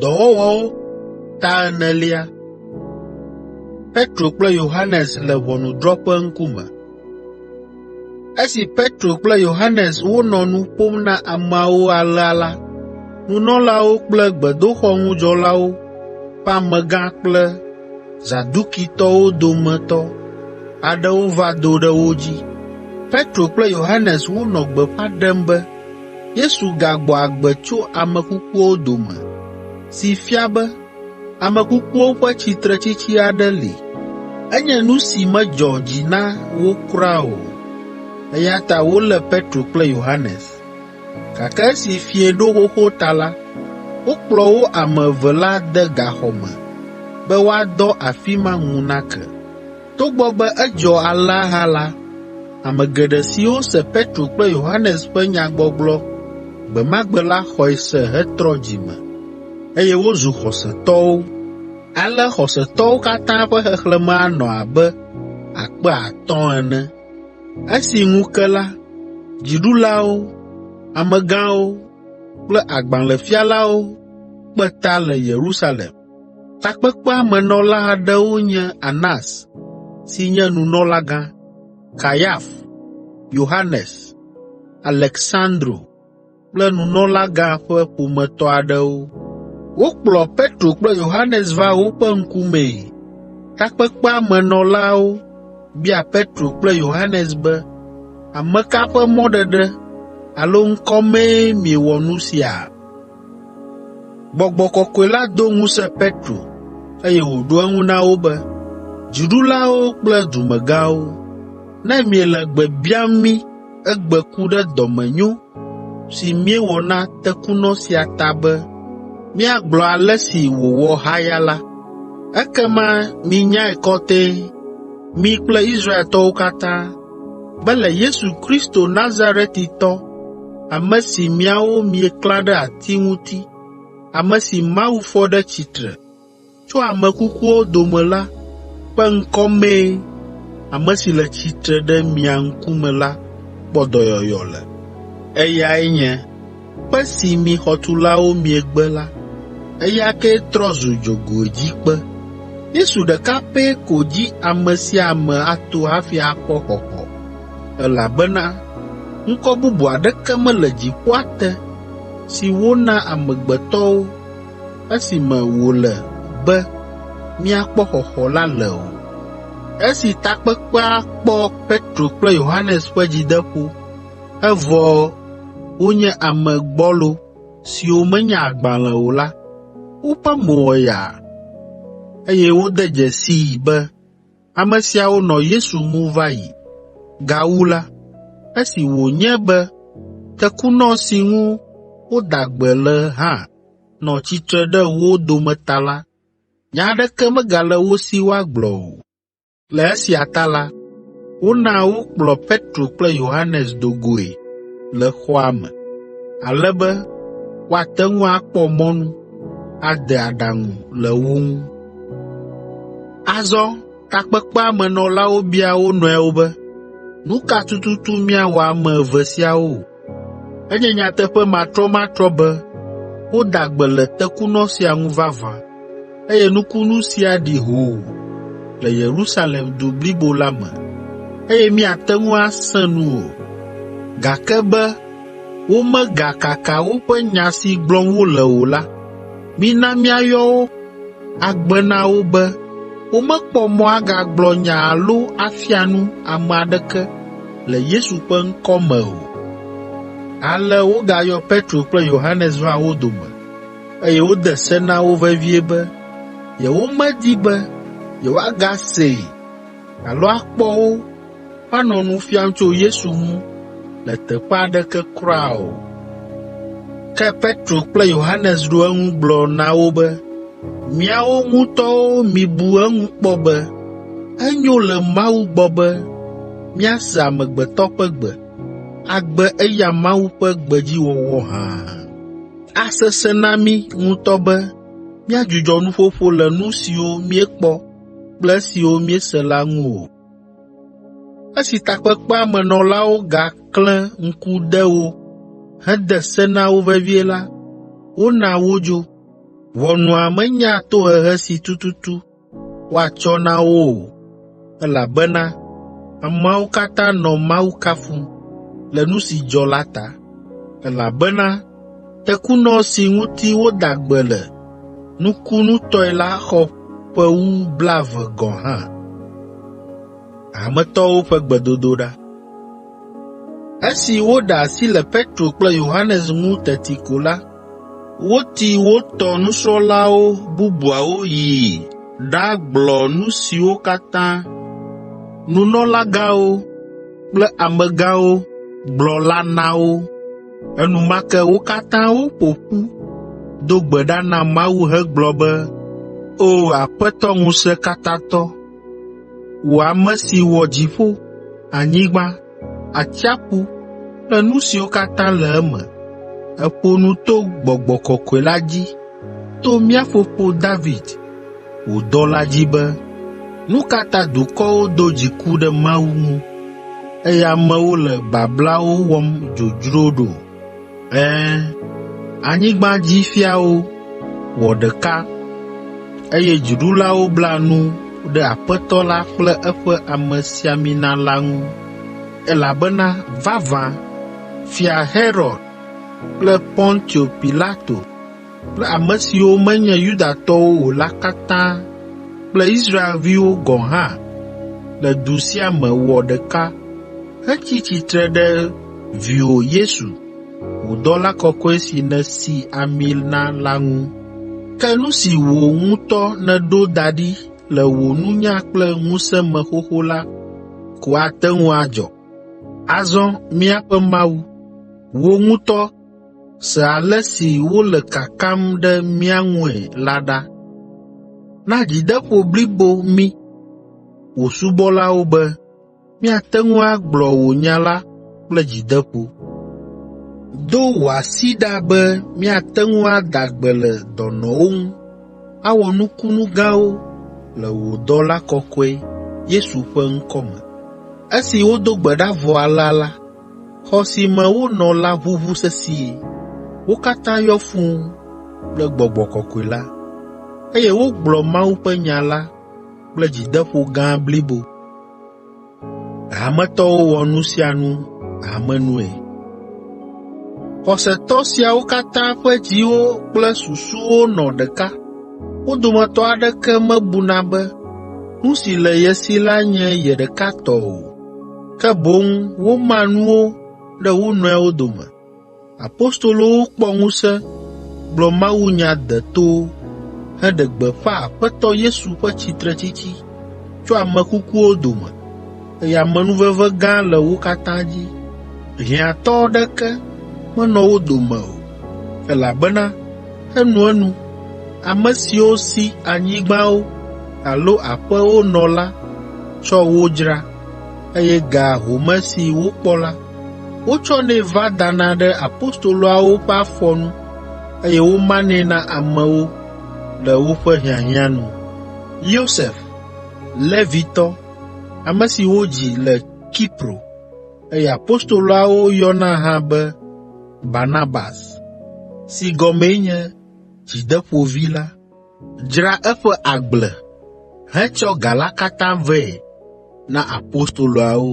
Dɔwɔwɔwo ta enelia. Petro kple Yohanes le ʋɔnudrɔ̃ƒe ŋkume. Esi Petro kple Yohanes wonɔ nu ƒom na ameawo alea la, nunɔlawo kple gbedoxɔŋudzɔlawo ƒe amegã kple Zadukitɔwo dometɔ aɖewo va do ɖe wo dzi. Petro kple Yohanes wonɔ gbeƒã ɖem be Yesu gagbɔ agbe tso ame kukuwo dome, si fia be ame kukuwo ƒe tsitretsitsi aɖe li. Enye nu si medzɔ dzi na wo kura o, eya ta wolé Petro kple Yohanes. Gake esi fiẽ ɖo xoxo ta la, wokplɔ wo ame eve la de gaxɔ me be woadɔ afi ma ŋu nake. Togbɔ be edzɔ alea hã la, ame geɖe siwo se Petro kple Yohanes ƒe nyagbɔgblɔ gbe ma gbe la xɔe se hetrɔ dzi me, eye wozu xɔsetɔwo. Ale xɔsetɔwo katã ƒe xexlẽme anɔ abe akpe atɔ̃ ene. Esi ŋu ke la, dziɖulawo, amegãwo kple agbalẽfialawo kpe ta le Yerusalem. Takpekpea me nɔla aɖewo nye Anas si nye nunɔlagã, Kayafa, Yohanes, Aleksandro kple nunɔlagã ƒe ƒometɔ aɖewo. Wokplɔ Petro kple Yohanes va woƒe ŋkumee. Takpekpea me nɔlawo bia Petro kple Yohanes be, “Ame ka ƒe mɔɖeɖe alo ŋkɔ mee miewɔ nu sia?” Gbɔgbɔ kɔkɔe la do ŋusẽ Petro, eye wòɖo eŋu na wo be, “Dziɖulawo kple dumegãwo, ne miele gbe biam mí egbe ku ɖe dɔmenyo si míewɔ na tekunɔ sia ta be míagblɔ ale si wòwɔ haya la, ekema minyae kɔtɛe, mi kple Israeltɔwo katã, be le Yesu Kristo Nazaretitɔ, ame si miawo mieklã ɖe ati ŋuti, ame si Mawu fɔ ɖe tsitre tso ame kukuwo dome la ƒe ŋkɔ mee ame si le tsitre ɖe mia ŋkume la kpɔ dɔyɔyɔ le. Eyae nye Kpe si mi xɔtulawo miegbe la, eya kee trɔ zu dzogoedzikpe. Yesu ɖeka pɛ ko dzi ame sia ame ato hafi akpɔ xɔxɔ, elabena ŋkɔ bubu aɖeke mele dziƒoa te si wona amegbetɔwo esime wòle be míakpɔ xɔxɔ la le o. Esi takpekpea kpɔ Petro kple Yohanes ƒe dzideƒo Evɔ wonye ame gbɔlo siwo menya agbalẽ o la, woƒe mo wɔ yaa, eye wode dzesii be ame siawo nɔ Yesu ŋu va yi. Gawu la, esi wònye be tekunɔ si ŋu woda gbe le hã nɔ tsitre ɖe wo dome ta la, nya aɖeke megale wo si woagblɔ o. Le esia ta la, wona wokplɔ Petro kple Yohanes do goe le xɔa me, ale be woate ŋu akpɔ mɔnu ade aɖaŋu le wo ŋu. Azɔ takpekpea me nɔlawo bia wo nɔewo be, “Nu ka tututu míawɔ ame eve siawo?” Enye nyateƒe matrɔmatrɔ be woda gbe le tekunɔ sia ŋu vavã, eye nukunu sia ɖi hoo le Yerusalem du blibo la me, eye míate ŋu asẽ nu o, gake be womegakaka woƒe nya si gblɔm wole o la, mina míayɔ wo agbe na wo be womekpɔ mɔ agagblɔ nya alo afia nu ame aɖeke le Yesu ƒe ŋkɔ me o. Ale wogayɔ Petro kple Yohanes va wo dome, eye wode se na wo vevie be yewomedi be yewoagasee alo akpɔ wo woanɔ nu fiam tso Yesu ŋu le teƒe aɖeke kura o. Ke Petro kple Yohanes ɖo eŋu gblɔ na wo be, “Miawo ŋutɔwo mibu eŋu kpɔ be enyo le Mawu gbɔ be míase amegbetɔ ƒe gbe, agbe eya Mawu ƒe gbe dzi wɔwɔ hã. Asesẽ na mí ŋutɔ be míadzudzɔ nuƒoƒo le nu siwo míekpɔ kple esiwo míese la ŋu o. Esi takpekpea me nɔlawo gaklẽ ŋku ɖe wo hede se na wo vevie la, wona wodzo. Ʋɔnua menya tohehe si tututu woatsɔ na wo o, elabena ameawo katã nɔ Mawu kafum le nu si dzɔ la ta. Elabena tekunɔ si ŋuti woda gbe le nukunutɔe la xɔ ƒe wu blaeve gɔ̃ hã. Esi woɖe asi le Petro kple Yohanes ŋu teti ko la, Woti wo tɔ nusrɔ̃lawo bubuawo yi ɖagblɔ nu siwo katã nunɔlagãwo kple amegãwo gblɔ la na wo. Enumake wo katã woƒo ƒu do gbe ɖa na Mawu hegblɔ be, “O Aƒetɔ Ŋusẽkatãtɔ, wò ame si wɔ dziƒo, anyigba, atsiaƒu kple nu siwo katã le eme. Èƒo nu to Gbɔgbɔ Kɔkɔe la dzi to mía fofo David, wò dɔla dzi be, Nu ka ta dukɔwo do dziku ɖe Mawu ŋu, eye amewo le bablawo wɔm dzodzro ɖo? Ẽ, anyigbadzifiawo wɔ ɖeka, eye dziɖulawo bla nu ɖe Aƒetɔ la kple eƒe amesiamina la ŋu, elabena vavã, Fia Herod kple Pontio Pilato kple ame siwo menye Yudatɔwo o la katã kple Israelviwo gɔ̃ hã le du sia me wɔ ɖeka hetsi tsitre ɖe viwò Yesu, wò dɔla kɔkɔe si nèsi ami na la ŋu. Ke nu si wò ŋutɔ nèɖo da ɖi le wò nunya kple ŋusẽ me xoxo la ko ate ŋu adzɔ. Azɔ míaƒe Mawu, wò ŋutɔ, Se ale si wole kakam ɖe mía ŋue la ɖa. Na dzideƒo blibo mí, wò subɔlawo be míate ŋu agblɔ wò nya la kple dzideƒo. Do wò asi ɖa be míate ŋu ada gbe le dɔnɔwo ŋu, awɔ nukunu gãwo le wò dɔla kɔkɔe, Yesu ƒe ŋkɔ me.” Esi wodo gbe ɖa vɔ alea la, Xɔ si me wonɔ la ʋuʋu sesĩe. Wo katã yɔ fũu kple gbɔgbɔ kɔkɔe la, eye wogblɔ Mawu ƒe nya la kple dzideƒo gã blibo. Hametɔwo wɔ nu sia nu hamenue. Xɔsetɔ siawo katã ƒe dziwo kple susuwo nɔ ɖeka. Wo dometɔ aɖeke mebuna be nu si le ye si la nye ye ɖeka tɔ o. ke boŋ woma nuwo ɖe wo nɔewo dome. Apostolowo kpɔ ŋusẽ gblɔ mawunya detowo heɖe gbeƒã Aƒetɔ Yesu ƒe tsitretsitsi tso ame kukuwo dome, eye amenuveve gã le wo katã dzi. Hiãtɔ aɖeke menɔ wo dome o, elabena Enuenu, ame siwo si anyigbawo alo aƒewo nɔ la tsɔ wo dzra, eye ga home si wokpɔ la, wotsɔnɛ va dana ɖe apostoloawo ƒe afɔ nu, eye womanɛ na amewo le woƒe hiahiã nu. Yosef, Levitɔ, ame si wodzi le Kipro. Eye apostoloawo yɔna hã be Barnabas, si gɔmee nye dzideƒovi la, dzra eƒe agble hetsɔ ga la katã vɛ na apostoloawo.